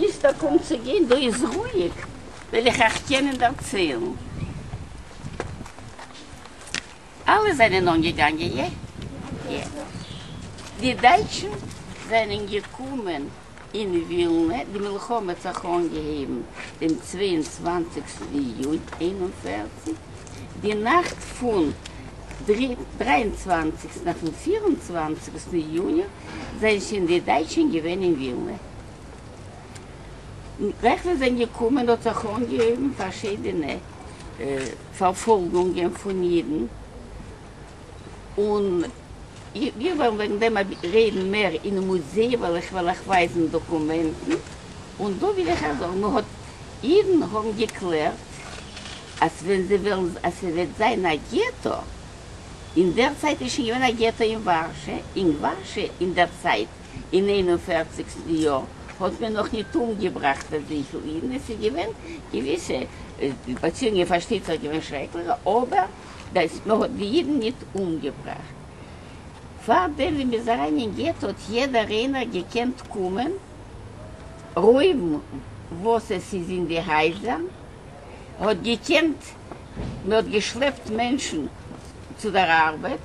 ביז דא קומט צו גיין, דא איז רואיג, וועל איך אייך קענען דערציילן. אלע זענען אנגעגאנגען, יע, יע. די דייטשן זענען געקומען אין ווילנע, די מלחמה האט זיך אנגעהויבן דעם צוויי און צוואנציגסטן יוני איין און פֿערציק, די נאכט פון דריי און צוואנציגסטן אויפן פֿיר און צוואַנציקסטן יוני זענען שוין די דייטשן געווען אין ווילנע. ווען זיי זענען געקומען האט זיך אנגעהויבן פארשידענע פארפאלגונגען פון אידן, און איך וועל וועגן דעם רעדן מער אין מוזיי ווען איך וועל אייך ווייזן דאקומענטן, און דא וויל איך אייך זאגן, מען האט, אידן האבן געקלערט אז ווען זיי וועלן, אז ס'וועט זיין א געטא, אין דער צייט איז שוין געווען א געטא אין ווארשע, אין ווארשע אין דער צייט, אין איין און פערציגסטן יאר האט מען נאך ניט אומגעבראכט אזויפיל אידן, עס איז געווען געוויסע באציאונגען פארשטייט זיך געווען שרעקליכע, אבער דעס מען האט די אידן ניט אומגעבראכט. פאר דעם ווען מען איז אריין אין געטא האט יעדער איינער געקענט קומען רויבן וואס עס איז אין די הייזער, מען האט געקענט, מען האט געשלעפט מענטשן צו דער ארבעט,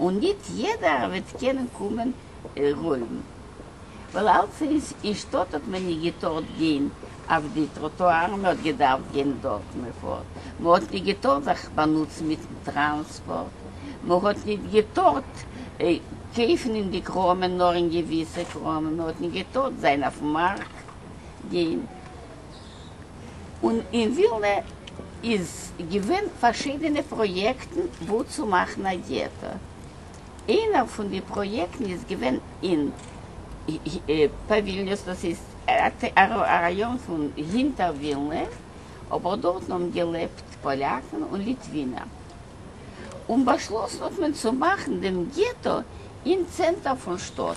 און ניט יעדער וועט קענען קומען רויבן, ווייל אלצינס אין שטאט האט מען ניט געטארט גיין אויף די טראטוארן, מ'האט געדארפט גיין דארט מ'פארט, מ'האט ניט געטארט זיך באנוצן מיטן טראנספארט, מ'האט ניט געטארט קויפן אין די קראמען, נאר אין געוויסע קראמען, מ'האט ניט געטארט זיין אויפן מארק גיין. און אין ווילנע איז געווען פארשידענע פראיעקטן וואו צו מאכן א געטא. איינער פון די פראיעקטן איז געווען אין ווילניוס, דאס איז א ראיאן פון הינטער ווילנע, אבער דארטן האבן געלעבט פאליאקן און ליטווינער, און באשלאסן האט מען צו מאכן דעם געטא אין צענטער פון שטאט.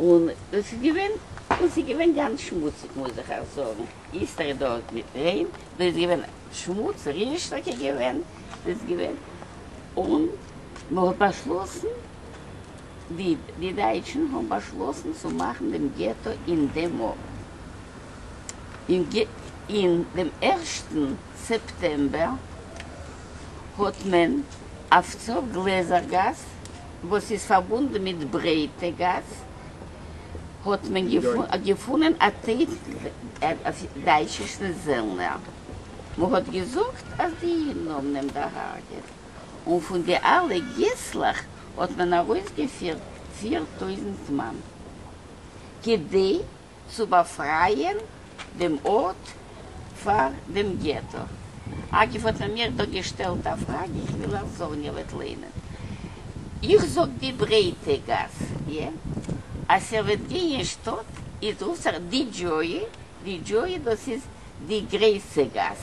און דאס איז געווען און ס'איז געווען גאנץ שמוציג מוז איך אייך זאגן, היסטערי דא איז נישט ריין, דא איז געווען שמוץ, ריר איז טאקע געווען, דא איז געווען, און מ'האט באשלאסן, די די דייטשן האבן באשלאסן צו מאכן דעם געטא אין דעם ארט, אין גע אין דעם ערשטן סעפטעמבער האט מען אויף צור גלעזער גאס, וואס איז פארבונדן מיט ברייטע גאס, האט מען געפונען א טעיפ אויף דייטשישן זעלנער, מ'האט געזאגט אז די אידן האבן אים דערהארגעט, און פון די אלע געסלעך האט מען ארויסגעפירט פיר טויזנט מאן כדי. צו באפרייען דעם ארט פאר דעם געטא. אגב האט מען מיר דא געשטעלט א פראגע, איך וויל אייך זאגן, איר וועט ליינען, איך זאג די ברייטע גאס, יא, אז איר וועט גיין אין שטאט איז רופט זיך די דזשוי, די דזשוי דאס איז די גרעסע גאס,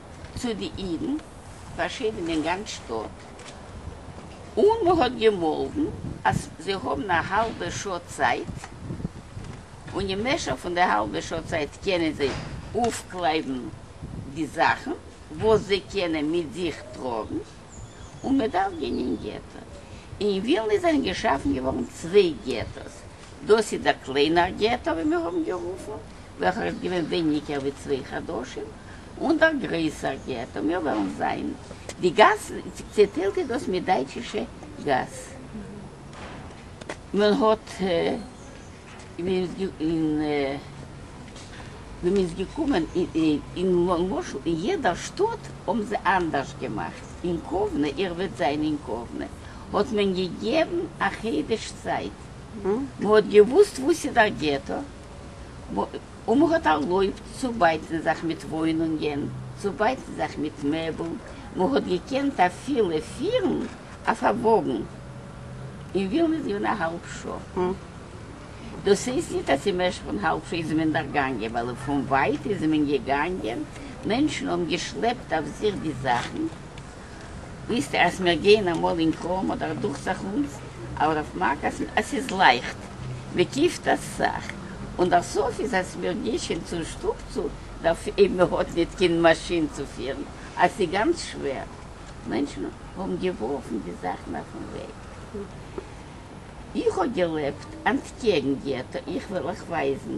צו די אידן, פארשידענע אין גאנץ שטאט, און מען האט געמאלדן אז זיי האבן א האלבע שעה צייט, און אין משך פון די האלבע שעה צייט קענען זיי אויפקלייבן די זאכן וואס זיי קענען מיט זיך טראגן, און מען דארף גיין אין געטא. אין ווילנע זענען געשאפן געווארן צוויי געטאס, דאס איז דער קליינער געטא ווי מיר האבן גערופן, וועלכער איז געווען ווייניגער ווי צוויי חדשים, און דער גרויסער געטא, מיר וועלן זען די גאסן, צעטיילט איז דאס מיט דייטשישע גאס, מען האט ווען מען איז געקומען אין למשל אין יעדע שטאט האבן זיי אנדערש געמאכט, אין קאוונע, איר וועט זען אין קאוונע האט מען געגעבן א חודש צייט, מ'האט געוואוסט וואס איז דער געטא, און מ'האט ערלויבט צו בייטן זיך מיט וואוינונגען, צו בייטן זיך מיט מעבל, מ'האט געקענט אפילו פירן אויף א וואגן אין ווילניץ געווען א האלב שעה. דאס הייסט נישט אז אין משך פון האלב שעה איז מען דערגאנגען, ווייל פון ווייט איז מען געגאנגען, מענטשן האבן געשלעפט אויף זיך די זאכן, וויסטע אז מיר גייען אמאל אין קראום אדער דוכצעך אונז אבער אויף מעק אז עס איז לייכט מען קיפט אסאך און דער סוף איז אז מיר גיי שוין צו שטוב צו דערפ אייב מען האט ניט קיין מאשין צו פירן אז סי גאנץ שווער מענטשן האבן געווארפן די זאכן אויפן וועג איך האב געלעבט אנטקעגן געטא איך וועל אייך ווייזן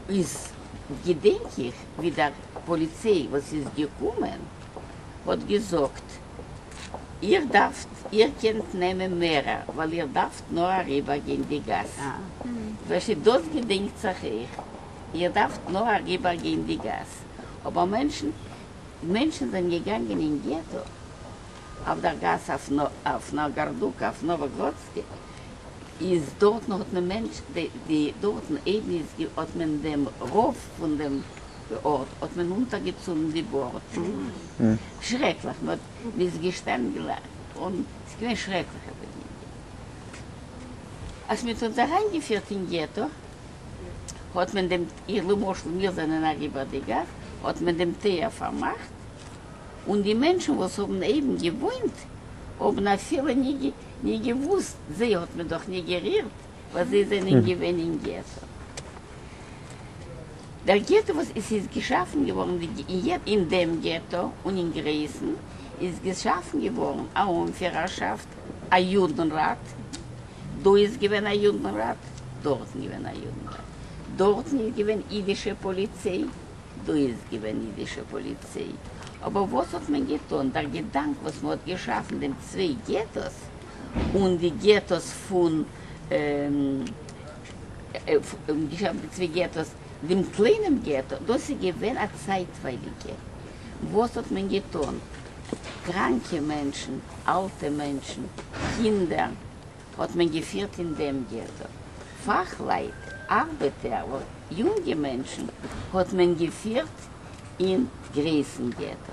איז געדענק איך ווי דער פאליציי וואס איז געקומען. האט געזאגט איר דארפט איר קענט נעמען מערער ווייל איר דארפט נאר אריבער גיין די גאס וועלכע דאס געדענקט זיך אייך איר דארפט נאר אריבער גיין די גאס אבער מענטשן מענטשן זענען געגאנגען אין געטא אויף דער גאס אויף נאגארדוקא אויף נאוואגראדסקע איז דארטן האט מען מענטש די דארטן איידן איז האט מען דעם רוב פון דעם דאָרט האָט מען אונטערגעצונדן די באָרטן. שרעקלעך! מע האָט ניס געשטאַנען גלײַך אָן, ס'איז געװען שרעקלעכע באַגינונגען. אַז מע האָט אונדז אַרײַנגעפֿירט אין געטאָ, האָט מען דעם, איך, למשל, מיר זײַנען אַריבער די גאַס, האָט מען דעם טײַער פֿאַרמאַכט, און די מענטשן, װאָס האָבן אײבן געװאוינט, האָבן אַפֿילו ניט געװוּסט, זײ האָט מען דאָך ניט גערירט. וואס זיי זענען געווען אין געטא. דער געטא וואס עס איז געשאפן געווארן אין דעם געטא און אין גרעיסן איז געשאפן געווארן א אנפירערשאפט א יודנראט, דא איז געווען א יודנראט, דארטן געווען א יודנראט, דארטן איז געווען אידישע פאליציי, דא איז געווען אידישע פאליציי, אבער וואס האט מען געטון, דער געדאנק וואס מען האט געשאפן דעם צוויי געטאס, און די געטאס פון דעם קליינעם געטא, דאס איז געווען א צייטווייליגע, וואס האט מען געטון? קראנקע מענטשן, אלטע מענטשן, קינדער, האט מען געפירט אין דעם געטא, פאכלייט, ארבעטער, יונגע מענטשן, האט מען געפירט אין גרויסן געטא.